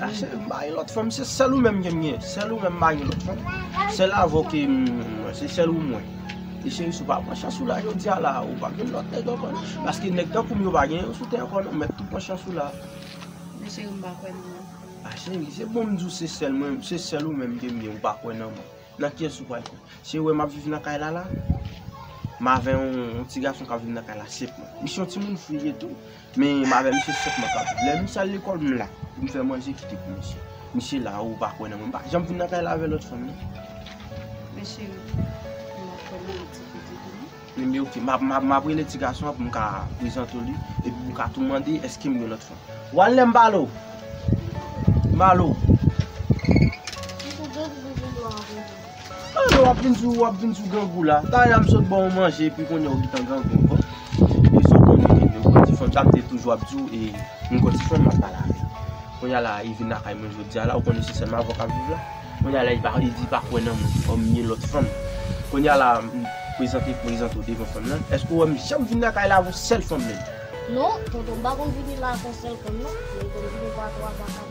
Ase m pa gen lòt fanm se sèl ou menm ke m gen, sèl ou menm m pa gen lòt fanm, sèl avè w ke m mwen, se sèl ou mwen. E cheri si w pa pran chans ou la jodi a la, ou pa gen lòt nèg ankò non, paske nèg tankou m yo pa gen yo sou tè ankò non, mèt tou pran chans ou la. Men cheri m pa kwè nan mwen. A cheri se bon m di w se sèl mwen, se sèl ou menm ke m gen ou pa kwè nan mwen, nan kiyès ou pral kwè? Cheri ou wè m ap viv nan kay la la, m avè yon ti gason k ap viv nan kay la 7 mwa, li se yon timoun fou li ye tou, Men m avè misye sèt mwa kap viv. Lè misye al lekòl m la pou m fè manje kite pou misye. Misye la ou pa kwè nan mwen. M pa janm vin nan kay la avè lòt fanm non. Men cheri, m ap fè manje ti piti pou nou. Li di ok. M ap rele ti gason an pou m ka prezante w li. Epi pou w ka tou mande èske m gen lòt fanm. W al lè m pale w. M pale w. Misye janti m vin lò avè nou. Tande wap vin sou wap vin sou grangou la. Ta ya m sot ba w manje epi kounye w gintan grangou ankò. E sa w konnen e m kòti fanm sa m te toujou ap di w e m kòti fanm m ap pale avè l. Kounye a la e vin lakay mwen jodi a la ou konnen se sèlman avè w kap viv la. Kounye a la e pa e di pa kwè nan mwen kòm m gen lòt fanm. Kounye a la m prezante prezante w devan fanm nan. Èske w wè m janm vin lakay la avè yon sèl fanm menm? Non tonton m pa konn vini la ak yon sèl fanm non. Mwen konn vini 2 a 3 fwa.